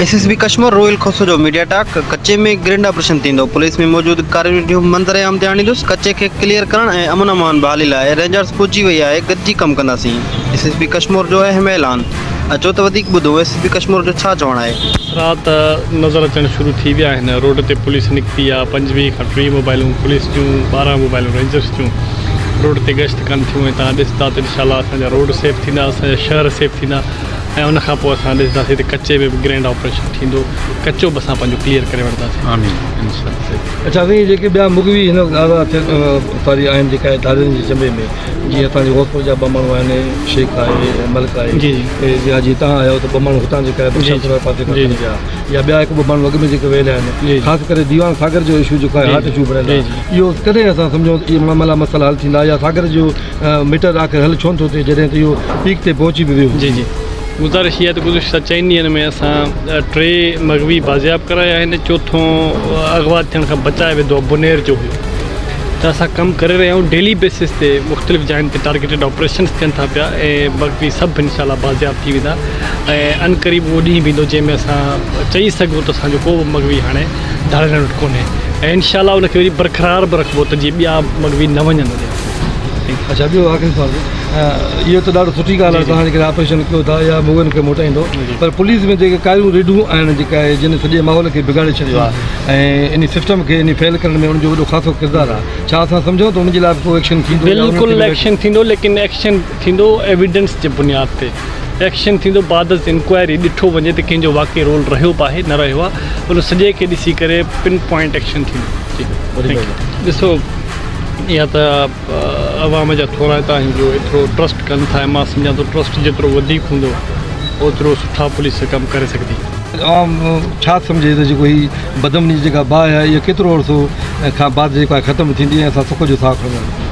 S S P Kashmore Roheel Khoso جو media talk, ڪچي ۾ grand operation ٿيندو، پوليس ۾ موجود ڪارروين جو منظرعام تي آڻيندس، ڪچي کي ڪليئر ڪرڻ ۽ امن امان بحالي لاء رينجرز پڄي وئي آهي، گڏجي ڪم ڪنداسين، ايس ايس بي ڪشمور جو اهم اعلان، اچو ته وڌيڪ ٻڌون ايس ايس بي ڪشمور جو ڇا چوڻ آهي. اثرات نظر اچڻ شروع ٿي ويا آهن، روڊ تي پوليس نڪتي آهي، پنج ويهه کان ٽيهه موبائلون پوليس جون، ٻارهن موبائلون رينجرز جون روڊ تي گشت ڪن ٿيون ۽ توهان ڏسندا ته انشاء الله اسان جا روڊ سيف ٿيندا، اسان جا شهر سيف ٿيندا. ۽ ان کان پوء اسان ڏسنداسين ته ڪچي ۾ به گرينڊ آپريشن ٿيندو ڪچو به اسان پنهنجو ڪليئر ڪري وٺنداسين آمين انشاء الله. اچا سائين جيڪي ٻيا مغوي هن آزاد ٿيل اتاري آهن جيڪا ادارين جي چنبي ۾ جيئن اسان جي غوثپور جا ٻه ماڻهو آهن شيخ آهي ملڪ آهي جي جي جي تهان آيا آهيو ته ٻه ماڻهو هتان جيڪا بخشاپور پاسي کان کڻي ويا يا ٻيا هڪ ٻه ماڻهو اڳ ۾ جيڪي ويل آهن خاص ڪري ديوان ساگر جو اشو جيڪو آهي هارٽ اشو بڻيل آهي اهو ڪڏهن اسان سمجهون ته اهي معاملا مسئلا حل ٿيندا يا ساگر جو مٽر آخر هل ڇونه ٿو ٿئي جڏهن ته اهو پيڪ تي پهچي به ويو. جي جي گذارش اها آهي ته گذشته چئن ڏينهن ۾ اسان ٽي مغوي بازياب ڪرايا آهن چوٿون اغوا ٿيڻ کان بچايو ويندو اهو بونير جو هيو ته اسان ڪم ڪري رهيا آهيون ڊيلي بيسس تي مختلف جاين تي ٽارگيٽيڊ آپريشنس ٿين ٿا پيا ۽ مغوي سڀ انشاء الله بازياب ٿي ويندا ۽ ان قريب اهو ڏينهن به ايندو جنهن ۾ اسان چئي سگهون ته اسان جو ڪو به مغوي هاڻي ڌاڙيلڻ وٽ ڪونهي ۽ انشاء الله ان کي وري برقرار به رکبو ته جي ٻيا مغوي نه وڃن اچا ٻيو آخري سوال اهو ته ڏاڍو سٺي ڳالهه آهي توهان جيڪڏهن آپريشن ڪيو ٿا يا مووين کي موٽائيندو پر پوليس ۾ جيڪي ڪاريون ريڊون آهن جيڪا آهي جن سڄي ماحول کي بگاڙي ڇڏيو آهي ۽ ان سسٽم کي ان فيل ڪرڻ ۾ ان جو وڏو خاصو ڪردار آهي ڇا اسان سمجهون ته ان جي لاء به ڪو ايڪشن ٿيندو بلڪل ايڪشن ٿيندو ليڪن ايڪشن ٿيندو ايويڊنس جي بنياد تي ايڪشن ٿيندو بعد از انڪوائري ڏٺو وڃي ته ڪنهن جو واقعي رول رهيو به آهي نه رهيو آهي ان سڄي کي ڏسي ڪري پن پوائنٽ ايڪشن ٿيندو جي ڏسو يا ته عوام جا ٿورائتا آهن جو ايترو ٽرسٽ ڪن ٿا ۽ مان سمجهان ٿو ٽرسٽ جيترو وڌيڪ هوندو اوترو سٺا پوليس ڪم ڪري سگهندي. عوام ڇا سمجهي ته جيڪو هي بدامني جي جيڪا باهه آهي اها ڪيترو عرصو کان بعد جيڪو آهي ختم ٿيندي ۽ اسان سک جو ساهه کڻنداسين.